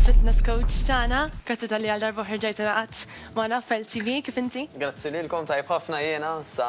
fitness coach tagħna. Grazzi tal-li għal darba ħerġajt naqat magħna fel TV kif inti? Grazzi lilkom tajb ħafna jiena sa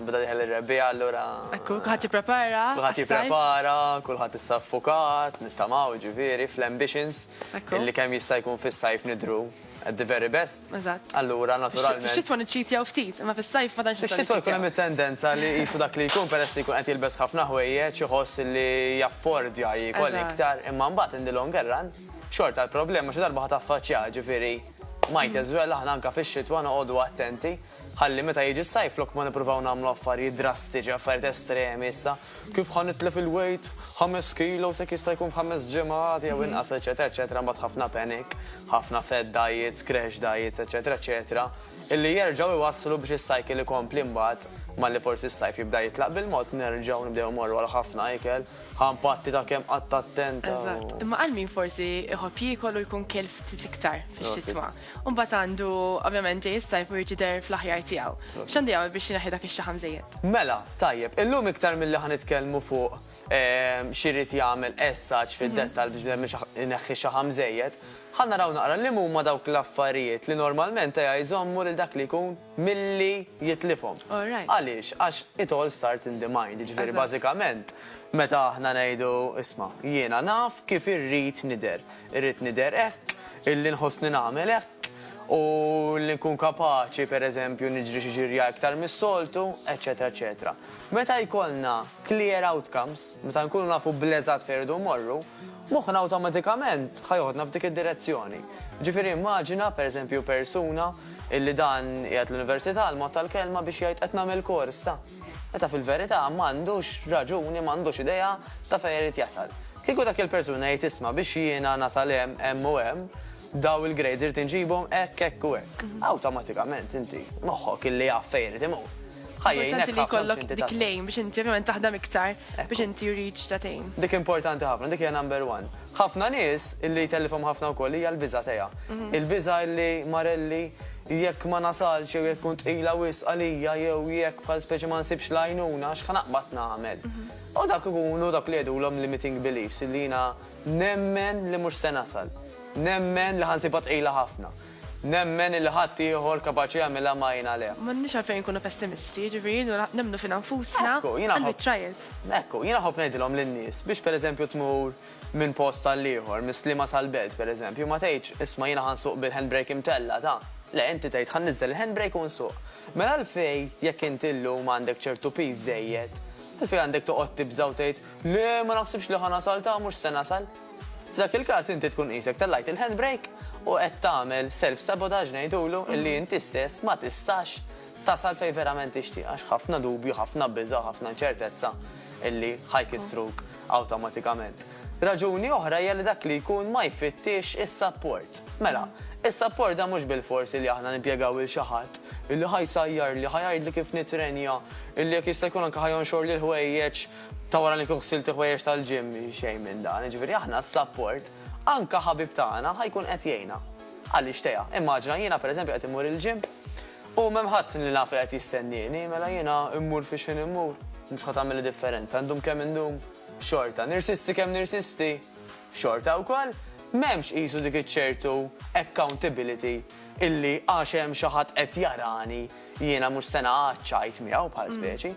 bda diħel ir-rebbija allura. Ekku, kulħadd jipprepara. Kulħadd jipprepara, kulħadd issa ffukat, nittamaw ġifieri fl-ambitions illi kemm jista' jkun fis-sajf nidru at the very best. Eżatt. Allura naturalment. Fix-xitwa niċċitjaw ftit, imma fis-sajf ma tantx Fix-xitwa jkun hemm it-tendenza li qisu dak li jkun peress li jkun qed jilbes ħafna ħwejjeġ iħoss li jaffordja jiekol iktar, imma mbagħad in the longer run xorta l-problema xi darba ħa taffaċċjaha, ġifieri might as well aħna anke fix-xitwa noqogħdu attenti. Ħalli meta jiġi s-sajf flok ma nippruvaw nagħmlu affarijiet drastiċi, affarijiet estremi issa, kif ħa nitlef il-weight ħames kilos jekk jista' jkun f'ħames ġimgħat jew inqas eċċetera eċċetera mbagħad ħafna panic, ħafna fad diets, crash diets eċċetera eċċetera illi jerġgħu jwasslu biex is-cycle ikompli mbagħad malli forsi s-sajf jibda jitlaq bil-mod nerġgħu nibdew immorru għal ħafna ikel, ħa npatti ta' kemm qatt attenta u. Eżatt. Imma għal min forsi jħobb jiekol u jkun kiel ftit iktar fix-xitwa. U mbagħad għandu, ovvjament, ġej is-sajf u jrid jidher fl-aħjar tiegħu. X'għandu jagħmel biex ineħħi dak ix-xaħam żejjed? Mela, tajjeb, illum iktar milli ħa nitkellmu fuq x'irid jagħmel as such fid-dettall biex bnedmin ineħħi xaħam żejjed, ħa naraw naqra liema huma dawk l-affarijiet li normalment jżommu lil dak li jkun milli jitlifhom. Għaliex? Għax it all starts in the mind, jiġifieri bażikament meta aħna ngħidu isma' jiena naf kif irrid nidher, irrid nidher hekk, illi nħossni nagħmel hekk, u li nkun kapaċi pereżempju niġri xi ġirja iktar mis-soltu, eċċetera eċċetera. Meta jkollna clear outcomes, meta nkunu nafu bl-eżatt fejn irridu mmorru, Moħħna awtomatikament ħa joħodna f'dik id-direzzjoni. Jiġifieri immaġina, per eżempju, persuna illi dan qiegħed l-università għall-mod tal-kelma biex jgħid qed nagħmel kors ta'. Meta fil-verità m'għandux raġuni, m'għandux idea ta' fejn irid jasal. Kieku dak il-persuna jgħid isma' biex jiena nasal hemm, hemm u hemm, Dawn il-grades irid inġibhom hekk, hekk u hekk. Awtomatikament inti moħħok illi jaf fejn irid imur. Ħajjejnek ħafna jkollok dik lejn biex inti ovvjament taħdem iktar biex inti reach ta' tejn. Dik importanti ħafna, dik hija number one. Ħafna nies illi jtellifhom ħafna wkoll hija l-biża' tiegħha. Il-biża' illi marelli jekk ma nasalx jew jekk tkun tqila wisq għalija jew jekk bħal speċi ma nsibx l-għajnuna x'ħa naqbad nagħmel. U dak ikunu dawk li jgħidulhom limiting beliefs illi jiena Nemmen li mhux se nasal. Nemmen li ħa nsibha tqila ħafna. Nemmen illi ħadd ieħor kapaċi jagħmilha ma jien għaliha. M'għandniex għalfejn inkunu pessimisti, jiġifieri jridu nemmnu fina nfusna and we try it. Ekku, jiena nħobb ngħidilhom lin-nies biex pereżempju tmur minn post għal ieħor, mis-Sliema sal-Belt pereżempju, ma tgħidx, isma' jiena ħa nsuq bil-handbrake imtella', ta'. Le, inti tgħid ħa nniżżel il-handbrake u nsuq. Mela għalfejn, jekk inti llum għandek ċertu piż żejjed, għalfejn għandek toqgħod tibża' u tgħid, Le, ma naħsibx li ħa nasal ta' mhux se nasal. F'dak il-każ inti tkun qisek tellajt il-handbrake u qed tagħmel self sabotage ngħidulu illi inti stess ma tistax tasal fejn verament tixtieq għax ħafna dubju, ħafna biża' u ħafna inċertezza illi ħa jkissruk awtomatikament. Raġuni oħra hija li dak li jkun ma jfittixx is-sapport. Mela, is-sapport da mhux bilfors illi aħna nimpjegaw lil xi ħadd illi ħa jsajjarli, ħa jgħidli kif nitrenja, illi jekk jista' jkun anke ħa jonxorli l-ħwejjeġ Ta' wara li nkun ħsilt il-ħwejjeġ tal-gym, xejn minn dan. Jiġifieri aħna s-sapport, anke ħabib tagħna ħa jkun qed jgħinna. Għaliex teha? Immaġina jiena pereżempju qed immur il-gym u m'hemm ħadd li naf li qed jistennieni, mela jiena mmur fi xħin immur, mhux ħa tagħmilli differenza, ndum kemm indum, xorta. Nirsisti kemm nirsisti, xorta wkoll. M'hemmx qisu dik iċ-ċertu accountability illi għax hemm xi ħadd qed jarani, jiena mhux se naqgħad ċajt miegħu bħal speċi.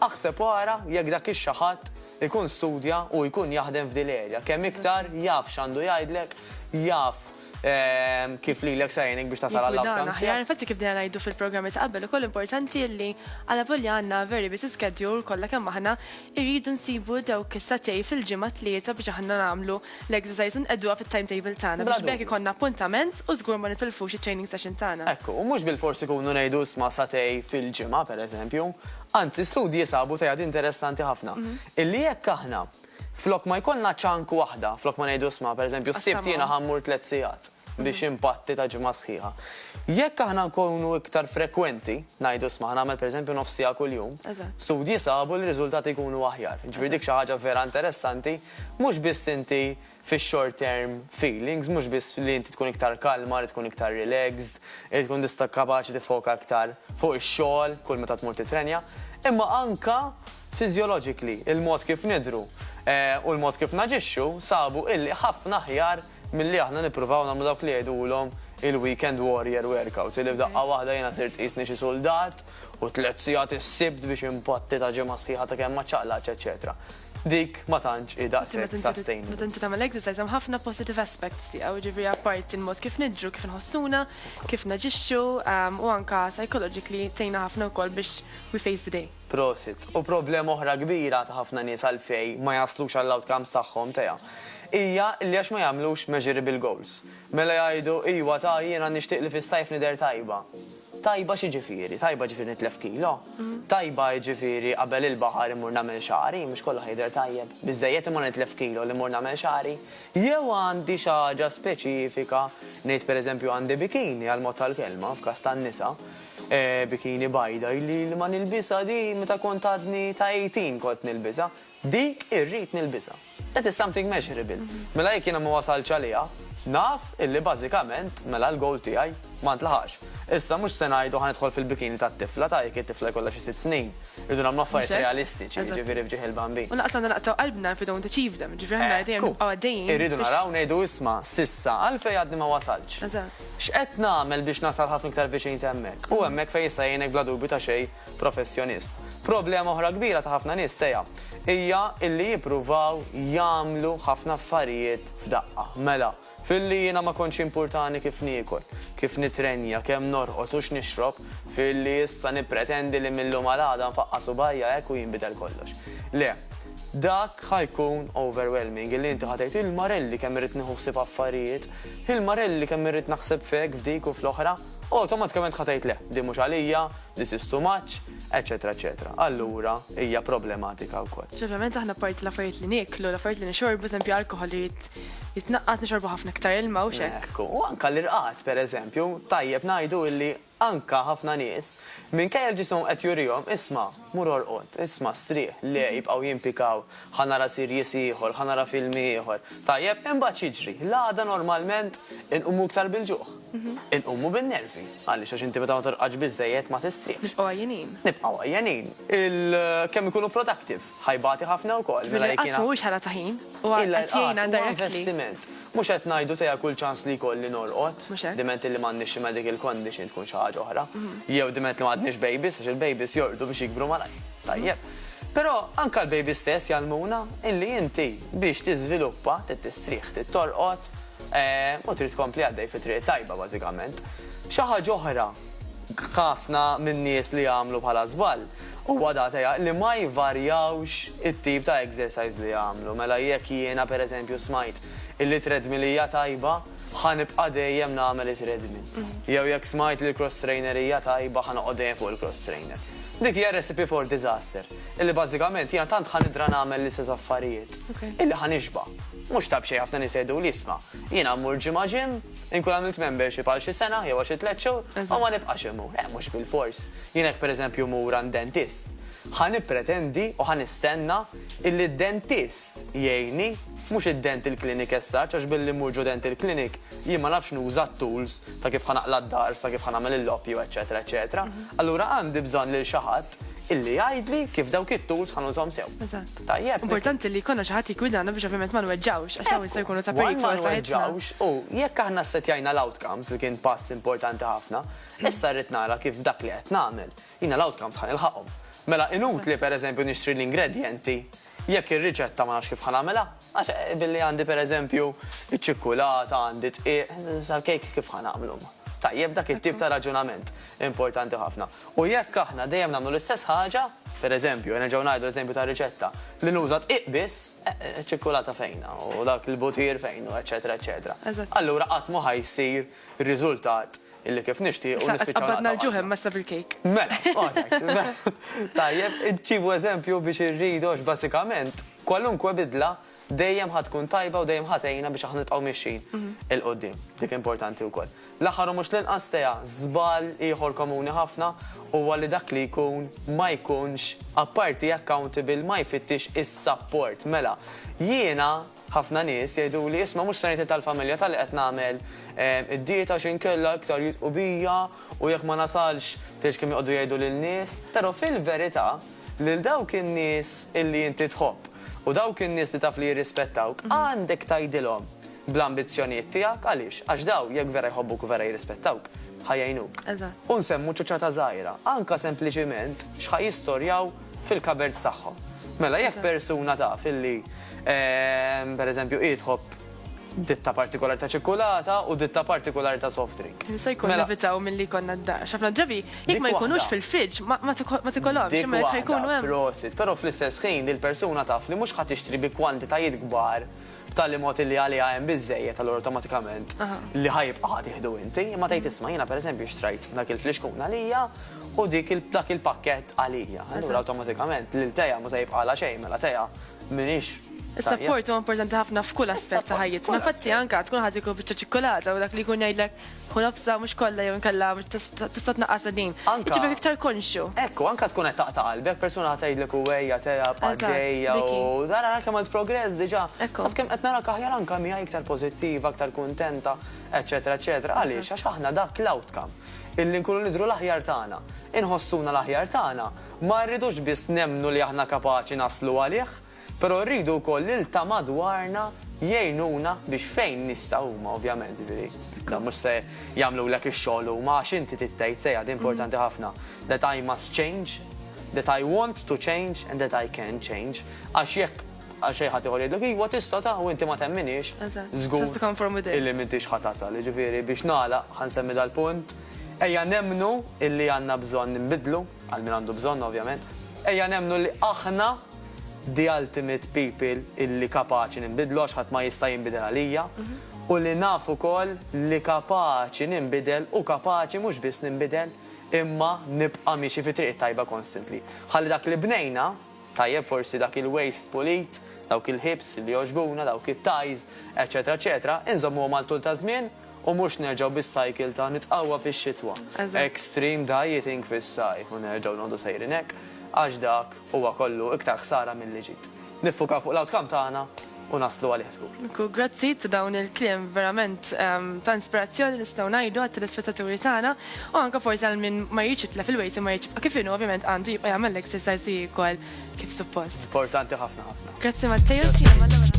Aħseb u ara jekk dak ix-xi ħadd ikun studja u jkun jaħdem f'din l-erja. Kemm iktar jaf x'għandu jgħidlek, jaf kif lilek se jgħinek biex tasal għall-outcomes tiegħek. Jikkwidan aħjar, infatti kif bdejna ngħidu fil-programmi ta' qabel ukoll importanti li alavolja għandna very busy schedule kollha kemm aħna, irridu nsibu dawk is-sagħtej fil-ġimgħa tlieta biex aħna nagħmlu L-exercise inqegħduha fit-timetable tagħna biex b'hekk ikollna appuntament u żgur ma nitilfux it-training session tagħna. Hekk hu, mhux bilfors ikunu ngħidu isma' satej fil-ġimgħa, pereżempju. Anzi, studji sabu tgħid interessanti ħafna, illi jekk aħna flok ma jkollna chunk waħda, flok ma ngħidu isma' pereżempju s-Sibt jiena ħa mmur tliet sigħat, biex impatti ta' ġimgħa sħiħa. Jekk aħna nkunu iktar frekwenti, ngħidu sma' nagħmel pereżempju nofs siegħa kuljum, studji sabu li r-riżultati jkunu aħjar. Jiġifieri dik xi ħaġa vera interessanti, mhux biss inti fix-short term feelings, mhux biss li inti tkun iktar kalma, li tkun iktar relaxed, li tkun tista' kapaċi tiffoka iktar fuq ix-xogħol kull meta tmur tittrenja, imma anke physiologically, il-mod kif nidhru u l-mod kif naġixxu sabu illi ħafna aħjar milli aħna nippruvaw nagħmlu dawk li jgħidulhom il-weekend warrior workouts, illi f'daqqa waħda jiena sirt qisni xi suldat u tliet sigħat is-Sibt biex inpatti ta' ġimgħa sħiħa ta' kemm ma ċċaqlaqtx eċċetera. Dik ma tantx hi daqshekk sustainable. Meta inti tagħmel exercise hemm ħafna positive aspects tiegħu, jiġifieri apparti l-mod kif nidhru, kif inħossuna, kif naġixxu u anke psychologically tgħinna ħafna wkoll biex we face the day. Prosit. U problema oħra kbira ta' ħafna nies għalfej ma jaslux għall-outcomes tagħhom, Tea, hija li għax ma jagħmlux measurable goals. Mela jgħidu, Iwa ta, jiena nixtieq li fis-sajf nidher tajba. Tajba x'jiġifieri? Tajba jiġifieri nitlef kilo? Tajba jiġifieri qabel il-baħar immur nagħmel xagħri? Mhux kollu ħa jidher tajjeb. Biżżejjed imma nitlef kilo li mmur nagħmel xagħri? Jew għandi xi ħaġa speċifika, ngħid pereżempju għandi bikini għall-mod tal-kelma, f'każ tan-nisa, Bikini bajda ili li ma nilbisha di meta kont għadni ta' 18 kont nilbisha. Dik irrid nilbisha. That is something measurable. Mela jekk jiena ma wasaltx għaliha, naf illi bażikament mela l-goal tiegħi ma ntlaħaqx. Issa mhux se ngħidu ħa nidħol fil-bikini tat-tifla ta' jekk it-tifla jkollha xi sitt snin. Irridu nagħmlu affarijiet realistiċi, jiġifieri f'ġieħ il-bambin. U lanqas għandna naqtgħu qalbna if we don't achieve them. Jiġifieri aħna dejjem nibqgħu għaddejjin biex. Irridu naraw ngħidu isma' s'issa għalfejn għadni ma wasaltx. X'qed nagħmel biex nasal ħafna iktar viċin t'hemmhekk? Hu hemmhekk fejn jista' jgħinek bla dubju ta' xejn professjonist. Problema oħra kbira ta' ħafna nies teha hija illi jippruvaw jagħmlu ħafna affarijiet f'daqqa. Mela, filli jiena ma kontx jimpurtani kif niekol, kif nittrenja, kemm norqod u x'nixrob, filli issa nippretendi li mil-lum għal għada nfaqqa' subgħajja hekk u jinbidel kollox. Le, dak ħa jkun overwhelming, illi inti ħa tgħid, il-marelli kemm irrid nieħu ħsieb affarijiet! Hi l-Marelli kemm irrid naħseb f'hekk, f'dik u fl-oħra. Awtomatikament ħa tgħid le, din mhux għalija, this is too much, eċċetera eċċetera. Allura hija problematika wkoll. Ċertament aħna apparti l-affarijiet li nieklu, l-affarijiet li nixorbu, eżempju alkoħol irid jitnaqqas, nixorbu ħafna iktar ilma u x'hekk. Ekku, u anke l-irqad pereżempju, tajjeb ngħidu illi Anke ħafna nies, minkejja li ġisimhom qed jurihom, isma', mur orqod, isma', strieħ, le, jibqgħu jimpikaw, ħa nara series ieħor, ħa nara filmi ieħor. Tajjeb, imbagħad x'jiġri? L-għada normalment inqumu iktar bil-ġuħ. Inqumu bin-nervi. Għaliex? Għax inti meta ma torqodx biżżejjed ma tistrieħx. Nibqgħu għajjenin. Nibqgħu għajjenin. Kemm ikunu productive? Ħa jbati ħafna wkoll, mela jekk jiena. Bil-inqas mhuwiex ħela ta' ħin, huwa qed jgħinna directly. Huwa investiment. Mhux qed ngħidu tejja kull ċans li jkolli norqod, diment li m'għandniex xi medical condition tkun xi ħaġa oħra, jew diment li m'għadniex babies għax il-babies jorqdu biex jikbru malajr. Tajjeb. Però anke l-babies stess jgħallmuna illi inti biex tiżviluppa trid tistrieħ, trid torqod, u trid tkompli għaddej fit-triq it-tajba bażikament. Xi ħaġa oħra. ħafna min-nies li jagħmlu bħala żball, huwa dat għeha li ma jvarjawx it-tip ta' exercise li jagħmlu. Mela jekk jiena per eżempju smajt illi treadmill hija tajba, ħa nibqa' dejjem nagħmel it-treadmill. Jew jekk smajt li l-cross trainer hija tajba, ħa noqgħod dejjem fuq il-cross trainer. Dik hija recipe for disaster, illi bażikament jiena tant ħa nidra nagħmel l-istess affarijiet illi ħa nixba'. Mhux ta' b'xejn ħafna nies jgħiduli isma', jiena mmur ġimgħa gym, Inkun għamilt membership għal xi sena jew għal xi tliet xhur u ma nibqax immur. Eh, mhux bil-fors. Jien hekk pereżempju mur għand dentist. Ħa nippretendi u ħa nistenna illi d-dentist jgħinni, mhux id-dental clinic as such, għax billi mmur ġo dental clinic jien ma nafx nuża t-tools ta' kif ħa naqla' d-dahar sa kif ħa nagħmel il-loppju, eċċetera, eċċetera. Allura għandi bżonn lil xi ħadd illi jgħidli kif dawk it-tools ħa nużhom sew. Eżatt. Tajjeb. Importanti li jkollna xi ħadd li jgwidana biex ovvjament ma nweġġawx għax hawn jista' jkunu ta' periklu għal saħħitna. U jekk aħna ssettjajna l-outcomes li kien pass importanti ħafna, issa rrid nara kif dak li qed nagħmel jiena l-outcomes ħa nilħaqhom. Mela inutli pereżempju nixtri l-ingredjenti Jekk ir-riċetta ma nafx kif ħa nagħmilha, għax billi għandi per eżempju iċ-ċikkulata, għandi d-dqiq, sal-kejk kif ħa nagħmlu? Tajjeb dak it-tip ta' raġunament, importanti ħafna. U jekk aħna dejjem nagħmlu l-istess ħaġa, per eżempju, nerġgħu ngħidu l-eżempju tar-riċetta, li nuża d-dqiq biss, iċ-ċikkulata fejnha u dak il-butir fejnu, eċċetera eċċetera. Allura qatt mhu ħa jsir riżultat li kif nixtiequ nispiċċaw naqtgħu qalbna. Issa qed tqabbadna l-ġuħ hemm issa bil-kejk. Mela, alright. Tajjeb, ġibu eżempju biex irridu għax bażikament kwalunkwe bidla dejjem ħa tkun tajba u dejjem ħa tgħinna biex aħna nibqgħu mixjin 'il quddiem. Dik importanti wkoll. L-aħħar u mhux l-inqas, Tea, żball ieħor komuni ħafna huwa li dak li jkun ma jkunx apparti accountable ma jfittix is-sapport. Mela, jiena Ħafna nies jgħiduli, isma' mhux se ngħid li tal-familja ta' li qed nagħmel id-dieta għax inkella iktar jidhqu bija u jekk ma nasalx tgħidx kemm joqogħdu jgħidu lin-nies. Però fil-verità lil dawk in-nies illi inti tħobb u dawk in-nies li taf li jirrispettawk għandek tgħidilhom bl-ambizzjonijiet tiegħek. Għaliex? Għax dawn jekk vera jħobbuk u vera jirrispettawk ħa jgħinuk. U nsemmu ċoċċata żgħira, anke sempliċiment x'ħa jistorjaw fil-cupboards tagħhom. Mela jekk persuna taf illi ehm, per eżempju hi tħobb ditta partikolari ta' ċikkulata u ditta partikolari ta' soft drink. Se jkun mela- evitaw mill-li konna d-dar. ċafna ġabi, jek ma jkunux fil-fridġ, ma tikolom, ximma jkunu għem. Prosit, pero fl-istess ħin il-persuna taf li mux ħat ixtri bi kwantitajiet gbar b'tali mod illi għaliha hemm biżżejjed allura awtomatikament li ħa jibqa' ħa tieħdu inti, imma tgħid isma' jiena pereżempju xtrajt dak il-flixkun għalija u dik dak il-pakkett għalija. Allura awtomatikament lil Tea mhu se jibqagħlha xejn mela Tea m'iniex tajjeb. Is-sapport huwa importanti ħafna f'kull aspett ta' ħajjitna. Infatti anke tkun ħa tieku biċċa ċikkulata u dak li jkun jgħidlek, u nofsa mhux kollha jew inkella tista' tnaqqasha din. Anka. Ġibek iktar konxju. Ekku, anka tkun qed taqta' qalbek, persuna ħa tgħidlek u ejja telgħab għaddejja u ara ara kemm għamilt progress diġà. Ekku. Taf kemm qed narak aħjar anka miegħi iktar pożittiva, iktar kuntenta, eċċetera eċċetera. Għaliex? Għax aħna dak l-outcome illi nkunu nidhru l-aħjar tagħna, inħossuna l-aħjar tagħna, ma rridux biss nemmnu li aħna kapaċi naslu għalih, Però rridu wkoll li l-ta' madwarna jgħinuna biex fejn nistgħu huma ovvjament, jiġifieri dawn mhux se jagħmlulek ix-xogħol huma għax inti trid tgħid sejħa din importanti ħafna, that I must change, that I want to change and that I can change għax jekk għal xejn ħadd ieħor jgħidlek iva tista' ta' u inti ma temminhiex, żgur illi m'intix ħa tasal. Jiġifieri biex nagħlaq ħa nsemmi dal-punt, ejja nemmnu illi għandna bżonn inbiddlu, għal min għandu bżonn ovvjament, ejja nemmnu li aħna, the ultimate people illi kapaċi ninbidlu għax ħadd ma jista' jinbidel għalija u li naf ukoll li kapaċi ninbidel u kapaċi mhux biss ninbidel imma nibqa' miexi fit-triq it-tajba constantly. Ħalli dak li bnejna, tajjeb forsi dak il-waste pulit, dawk il-ħiebs li jogħġbuna, dawk it-ties, eċċetera eċċetera, inżommuhom għal tul taż-żmien. u mhux nerġgħu bis-cycle ta' nitqawwa fix-xitwa, extreme dieting fis-sajf u nerġgħu noqogħdu sejrin hekk, għax dak huwa kollu iktar ħsara milli ġid. Niffukaw fuq l-outcome tagħna u naslu għalih żgur. Nku, grazzi ta' dawn il-kliem verament ta' inspirazzjoni nistgħu ngħidu għat-telespettaturi tagħna u anke forsi għal min ma jridx jitlef il-weight imma jrid jibqa' kif inhu ovvjament għandu jibqa' jagħmel l-exercise u jiekol kif suppost. Importanti ħafna ħafna. Grazzi Matteo, sija